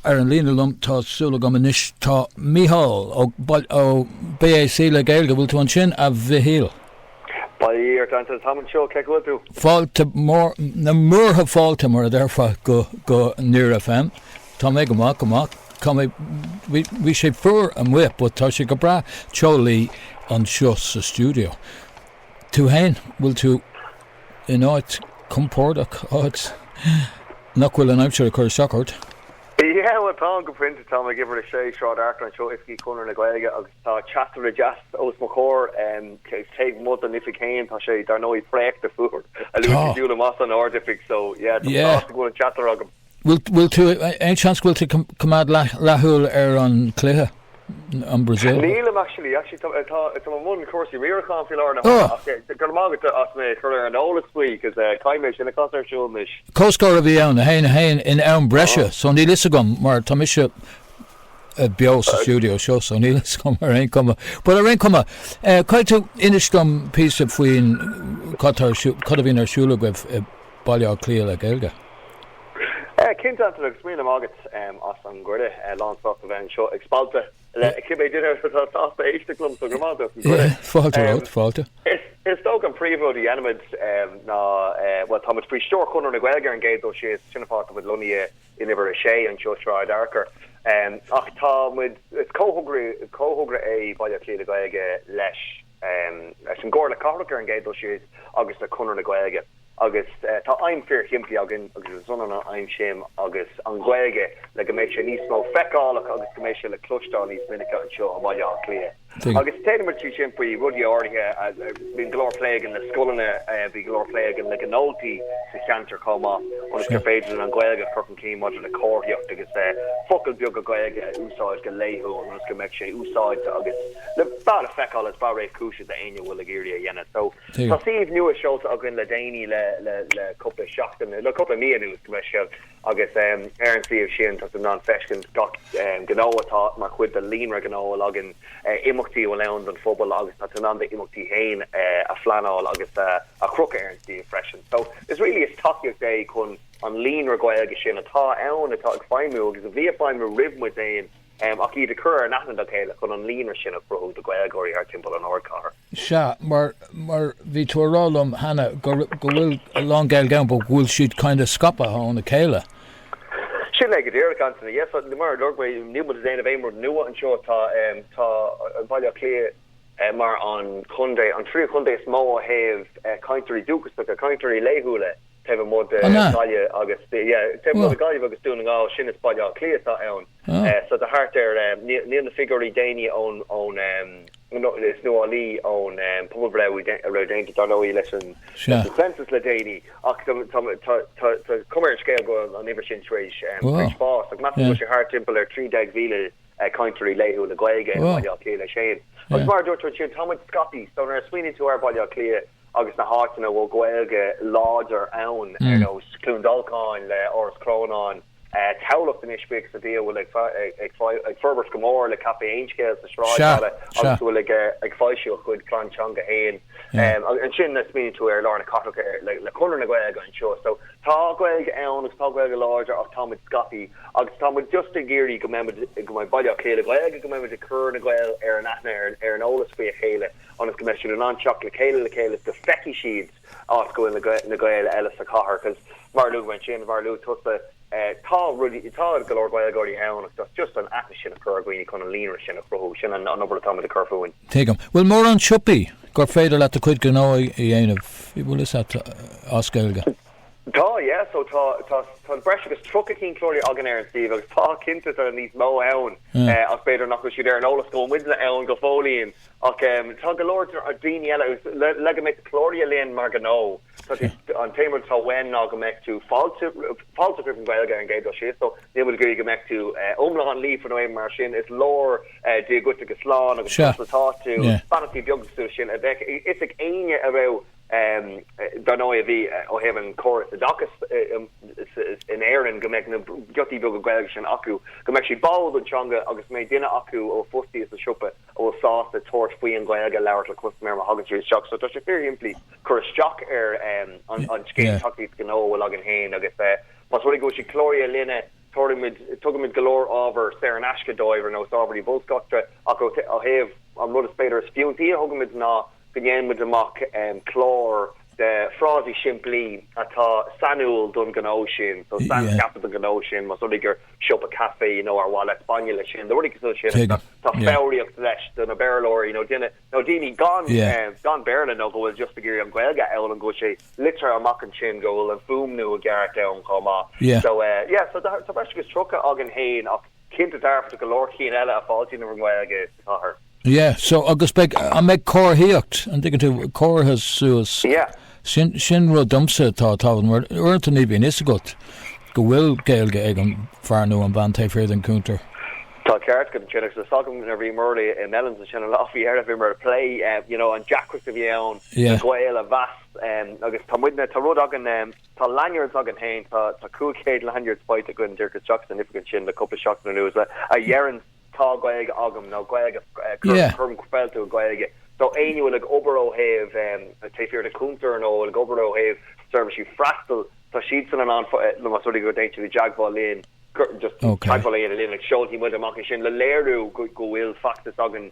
Ar an líne liom, tá súil agam anois, tá Mícheál ó Baile, ó BÁC le Gaeilge. Bhfuil tú ansin, a Mhichíl? Bail ó Dhia ort, a Antain, táim anseo, cén chaoi a bhfuil tú? Fáilte mór, na múrtha fáilte mar a déarfá go, go Near FM. Tá mé go maith, go maith. Tá mé, bhí, bhí sé fuar amuigh but tá sé go breá teolaí anseo sa stiúideo. Tú fhéin, bhfuil tú in áit compórdach, áit nach bhfuil an aimsir ag cur isteach ort? Yeah, bhuel táim go pointe, táim ag uimhir a sé Sráid Fhearchair anseo, oifigí Chonradh na Gaeilge agus tá teasaire deas os mo chomhair, taobh amuigh don oifig fhéin tá sé dar ndóigh préachta fuar, a luaithe siúil amach as an ardoifig so yeah, táim sásta go bhfuil an teasaire agam. Bhfuil tú, aon seans go bhfuil tú ag coimeád leathshúil ar an cluiche, an Brazil? Nílim actually, actually tá, táim i mbun cúrsaí riaracháin faoi láthair na huaire ach go raibh maith agat as mé a chur ar an eolas faoi cos caithfidh mé sin a chur ar siúl anois. Comhscór a bhí ann, 1, 1 in am breise so níl 'fhios agam mar tá mise beo sa stiúideo seo so níl 'fhios agam ar aon cuma. But ar aon cuma, caithfidh tú inis dom píosa faoin cad tá ar siúl, cad a bhíonn ar siúl agaibh i Baile Átha Cliath le Gaeilge. Cinnte Antain agus míle maith agat as an gcuireadh. Lán sásta a bheith anseo ag spalpadh le cibé duine atá sásta éisteacht liom, so go raibh maith agat as an gcuireadh. Fáilte romhat, fáilte. Is dócha an príomhrud a dhéanaimid ná, bhuel, táimid faoi stiúir Chonradh na Gaeilge ar an gcéad dul síos, sin an fáth atá muid lonnaithe in uimhir a sé, anseo, Sráid Fhearchair, ach tá muid, is comhthogra é Baile Átha Cliath le Gaeilge leis, leis an gComhairle Cathrach ar an gcéad dul síos agus le Conradh na Gaeilge agus tá aidhm fíor shimplí againn agus is ionann an aidhm sin agus an Ghaeilge le go mbeidh sé níos mó feiceálach agus go mbeidh sé le cloisteáil níos minice anseo i mBaile Átha Cliath agus déanaimid é sin faoi rudaí áirithe bíonn go leor plé againn le scoileanna bhí go leor plé againn le gnóthaí sa cheantar chomh maith ionas gur féidir linn an Ghaeilge a chur chun cinn maidir le comharthaíocht agus focail beaga Gaeilge a úsáid go laethúil ionas go mbeidh sé úsáidte agus le fad a feiceáil is breá réchúiseach d'éinne a bhfuil ag iarraidh a dhéanamh so. Tá suíomh nua seolta againn le déanaí le le cúpla seachtain le cúpla mí anuas gabh mo leithscéal agus ar an suíomh sin tá tú in ann feiscint gach gnó atá mar chuid de líonra gnó a bhfuil againn, imeachtaí a bhfuil ann don phobal agus tá tú in ann do imeachtaí féin a phleanáil agus a chrochadh ar an suíomh freisin. So is really is tacaíocht é chun an líonra Gaeilge sin atá ann atá ag feidhmiú agus a bhí ag feidhmiú roimh muid féin ach iad a chur in aithne dá chéile chun an líonra sin a chruthú do Ghaeilgeoirí ar timpeall an Ardchathair. Seadh, mar, mar, bhí tú ag rá liom cheana go, go bhfuil a lán Gaeilge ann but go bhfuil siad kind of scapaithe óna céile. Sin é go díreach, Antaine. Yes, mar a luaigh mé, níl muid ag déanamh aon rud nua anseo. Tá, tá an Baile Átha Cliath mar an chontae, an tríú chontae is mó ó thaobh cainteoirí dúchasacha, cainteoirí laethúla taobh amuigh de Ghaillimh agus, yeah, taobh amuigh de Ghaillimh agus Dún na nGall, sin is Baile Átha Cliath atá ann. Ah. So tá thart ar, níl na figiúirí déanaí ón, ón, nó is nuálaí ón pobalbhreith a raibh déanta dar ndóigh leis an, leis an Census le déanaí ach tá, tá, tá, tá, tá cuma ar an scéal go bhfuil an uimhir sin tar éis, tar éis fás ach measaim go bhfuil sé thart timpeall ar 13,000 cainteoirí laethúil le Gaeilge i mBaile Átha Cliath leis féin. Agus mar a dúirt tú ansin, tá muid scaipthe, so nuair a smaoiníonn tú ar Bhaile Átha Cliath, agus na háiteanna a bhfuil Gaeilge láidir ann, ar nós Cluain Dolcáin le Áras Chrónáin, Tamhlacht anois, buíochas le Dia a bhfuil ag forbairt go mór le Caifé Aon Scéal sa Sráidbhaile agus a bhfuil ag foilsiú a chuid plean teanga féin. Ansin smaoiníonn tú ar lár na cathrach le Conradh na Gaeilge anseo. So tá Gaeilge ann agus tá Gaeilge láidir ach táimid scaipthe agus táimid just ag iarraidh go mbeimid, go mbeidh Baile Átha Cliath le Gaeilge, go mbeimid ag cur na Gaeil ar an aithne, ar an eolas faoi a chéile. ionas go mbeidh siad in ann teacht le chéile le chéile is go feicfidh siad áit go bhfuil na Gaeil eile sa chathair because mar a luaigh ansin, mar a luaigh tusa, tá rudaí, tá go leor Gaeilgeoirí ann ach just an aithne sin a chur ar dhaoine chun an líonra sin a chruthú, sin an obair atáimid ag tabhairt fúinn. Tuigim. Bhfuil mórán siopaí gur féidir leat do chuid gnó a dhéanamh, bhfuil fhios a't, as Gaeilge? Tá, yeah, so tá, tá, tá breis agus tríocha cinn cláraithe againn ar an suíomh agus tá cinnte tá níos mó ann ach b'fhéidir nach bhfuil siad ar an eolas go bhfuil muidne ann go fóillín. Ach tá go leor daoine eile, le go mbeadh cláraithe linn mar ghnó, an t-aon rud atá uainn ná go mbeadh tú fáilteach roimh an Ghaeilge ar an gcéad dul síos. So níl muid ag iarraidh go mbeadh tú iomlán líofa nó aon ní mar sin. Is leor Dia dhuit agus slán agus conas atá tú, beannachtaí beaga mar sin a bheadh fhios ag éinne a raibh, dar ndóigh a bhí ó thaobh an chóras oideachais in Éirinn, go mbeadh na giotaí beaga Gaeilge sin acu, go mbeadh siad báúil don teanga agus go mbeadh duine acu ó fostaí sa siopa. a bhfuil sásta tabhairt faoi an Ghaeilge a labhairt le custaiméir má thagann siad isteach. So tá sé fíor shimplí cur isteach ar an scéim tacaíocht gnó a bhfuil againn féin agus más rud é go bhfuil siad cláraithe linne, tabharfaimid, tugaimid go leor ábhar saor in aisce dóibh ar nós ábhar bolscaireachta ach ó thaobh an rud is b'fhéidir is fiúntaí a thugaimid ná go ndéan muid amach clár de phrásaí simplí atá sainiúil don ghnó sin, so saincheaptha don ghnó sin, más rud é gur siopa caife é you know ar mhaith leat bainne leis sin, nó rudaí cosúil le sin. Tá foghraíocht leis do na Béarlóirí nó duine nó daoine gan gan Béarla nó go bhfuil just ag iarraidh an Ghaeilge a fhoghlaim go bhfuil sé litrithe amach ansin go bhfuil an fuaimniú i gceart ann chomh maith. So eh yeah so tá breis agus tríocha againn fhéin ach Cinnte dearfa go leor ceann eile a fháiltíonn roimh an nGaeilge sa chathair. Yeah, so agus beidh, an mbeidh comharthaíocht, an dtuigeann tú, comhartha suas, Yeah. sin, sin rud domsa atá tábhachtach mar uaireanta ní bhíonn fhios agat go bhfuil Gaeilge ag an bhfear nó an bhean taobh thiar den chuntar. Tá an ceart agat ansin agus is fada nuair a bhí Murli i Melons ansin an lá faoi dheireadh bhíomar ag plé you know an deacracht a bhí ann Yeah. Gael a mheas agus tá muidne, tá rud againn, Tá lanyards againn féin, tá 500 lanyards faighte againn, díreach isteach san oifig ansin le cúpla seachtain anuas a deireann tá Gaeilge agam nó Gaeilge cuirim fáilte roimh Ghaeilge so éinne a bhfuil ag obair ó thaobh taobh thiar den chuntar nó a bhfuil ag obair ó thaobh seirbhísí freastail, tá siadsan in ann nó más rud é go dtéann siad i dteagmháil linn just teagmháil a dhéanamh linn agus seolfaidh muid amach é sin le léiriú go bhfuil feachtas againn.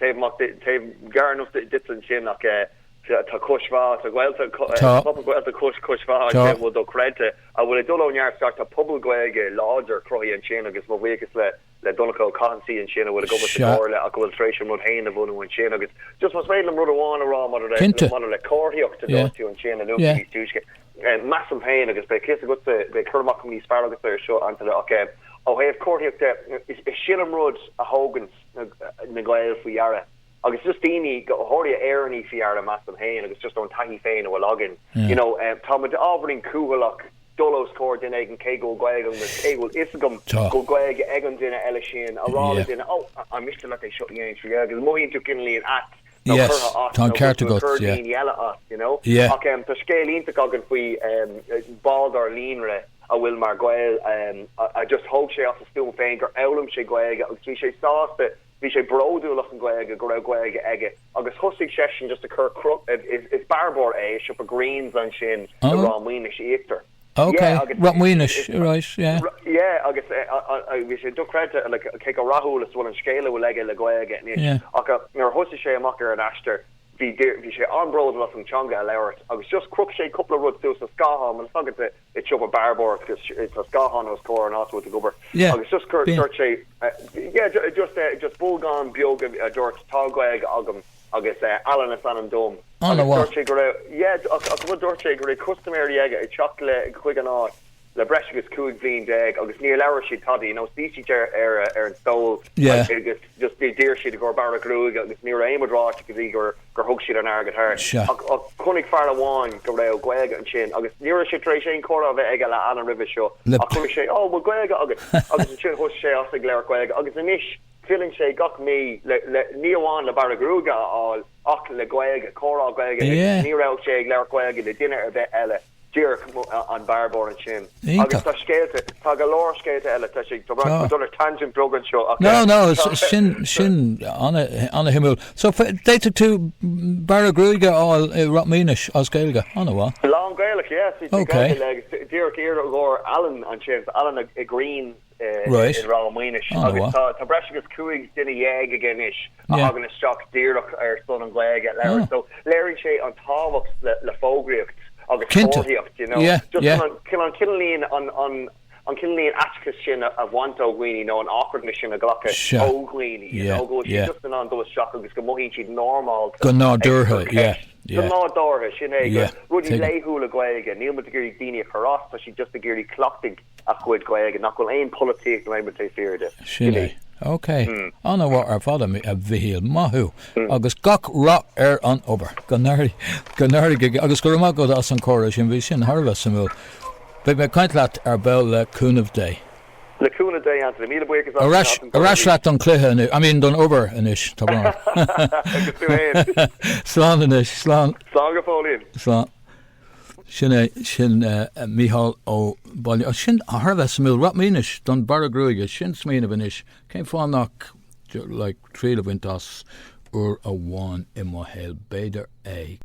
Taobh gearr enough duit ansin ach tá Cois Bá, tá pobal Gaeltachta Cois, Cois Bá a bhfuil dochreidte a bhfuil ag dul ó neart go neart, tá pobal Gaeilge láidir cruthaithe ansin agus mo bhuíochas le le Donncha Ó Cathasaigh ansin a bhfuil ag obair sa gComhairle ach a bhfuil tar éis an rud féin a bhunú ansin agus just más féidir liom rud amháin a rá maidir le maidir le comharthaíocht a dúirt tú ansin a luaigh tú níos túisce measaim féin agus beidh fios agat beidh cur amach níos fearr agat ar seo Antaine ach ó thaobh comharthaíocht de is é sin an rud a thugann na Gaeil faoi dheara agus just daoine go háirithe Éireannaigh faoi dheara measaim féin agus just ón taithí féin a bhfuil againn you know tá muid ábhairín cúthaileach dul os comhair duine éigin cé go bhfuil Gaeilge agam agus cé go bhfuil 'fhios agam go bhfuil Gaeilge ag an duine eile sin a rá le duine 'ó, an miste leat é seo a dhéanamh trí Ghaeilge' agus mothaíonn tú cineáilín ait nó Yes, curtha as tá an nó go ceart bhfuil agat, cur yeah. daoine eile as, you know. Yeah. Ach em tá scéal iontach againn faoi em bhall dár líonra a bhfuil mar Gael em a just thóg sé as a stuaim féin gur fhoghlaim sé Gaeilge agus bhí sé sásta bhí sé bródúil as an nGaeilge go raibh Gaeilge aige agus thosaigh seisean just ag cur cru- is is bearbóir é i siopa Greene's ansin i Ráth Maonais Íochtar. Ok, Yeah, agus Ráth Maonais, right, yeah. yeah, agus bhí sé dochreidte, like, cé chomh rathúil is a bhfuil an scéal a bhfuil aige le Gaeilge anois, yeah. ach nuair a thosaigh sé amach ar an aistear, bhí, bhí sé an-bródúil as an teanga a labhairt, agus just chroch sé cúpla rud suas sa scáthán, mar is eol duit i siopa bearbóireachta, agus tá scáthán os comhair an áit a bhfuil tú ag obair, yeah. agus just dúirt sé, yeah, just, just bolgán beag a dúirt tá Gaeilge agam, agus Alan is ainm dom An-mhaith. Agus dúirt sé go raibh yeah ach ach bhuel dúirt sé go raibh custaiméirí aige ag teacht le chuig an áit le breis agus 15 bhliain agus níor labhair siad tada you know shuigh siad ar ar ar an stól yeah agus agus just d'iarr siad i gcomhair bearradh gruaige agus ní raibh aon rud ráite go dtí gur gur thug siad an airgead thart sea ach ach chonaic fear amháin go raibh Gaeilge ansin agus ní raibh sé tar éis aon chomhrá a bheith aige le Alan roimhe seo le ach chonaic sé oh bhfuil Gaeilge agat agus ansin thosaigh sé as ag labhairt Gaeilge agus anois Filleann sé gach mí, ní amháin le bearradh gruaige a fháil ach le Gaeilge, comhrá Gaeilge aige. Ní raibh sé ag labhairt Gaeilge le duine ar bith eile, díreach an bearrbóir ansin. Agus tá scéalta, tá go leor scéalta eile, tá sé, tá muid dul ar tangent beag anseo ach. No, no, sin, sin ana-shuimiúil. So, d'fhéadfadh tú bearradh gruaige a fháil i Ráth Maonais as Gaeilge, ana-mhaith. Lán-Ghaelach, yes, díreach iarr ar Alan ansin, Alan ag Green. Raight. I Ráth Maonais. Tá breis agus cúig duine dhéag aige anois a thagann isteach díreach ar son an Ghaeilge a labhairt so léiríonn sé an tábhacht le fógraíocht agus comharthaíocht d'you know chun an cineál an an cineál aiteachais sin a bhaint ó dhaoine nó an awkwardness sin a ghlacadh ó dhaoine y'know go bhfuil siad just in ann dul isteach agus go mothaíonn siad normálta go nádúrtha yeah Go nádúrtha, sin é, na rudaí laethúla Gaeilge. Níl muid ag iarraidh daoine a chur as, tá siad just ag iarraidh cleachtadh a chuid Gaeilge, nach bhfuil aon polaitíocht nó aon rud taobh thiar de. Sin é. Ok. Ana-mhaith ar fad, a Mhichíl. Maith thú. Agus gach rath ar an obair. Go n-éirí go, agus go raibh maith agat as an comhrá sin, bhí sin thar a bheith suimiúil. Beidh mé ag caint leat ar ball le cúnamh Dé. Le cúnamh Dé, Antaine. Míle buíochas. Ar ais leat don chluiche anois, I mean don obair anois, tá brón orm. Agus tú fhéin. Slán anois, slán. Slán go fóillín. Slán. Sin é, sin Micheál ó Bhaile Ó, sin thar a bheith suimiúil. Rachaidh mé anois don bearradh gruaige, sin smaoineamh anois, cén fáth nach like triail a bhaint as uair amháin i mo shaol, b'fhéidir é.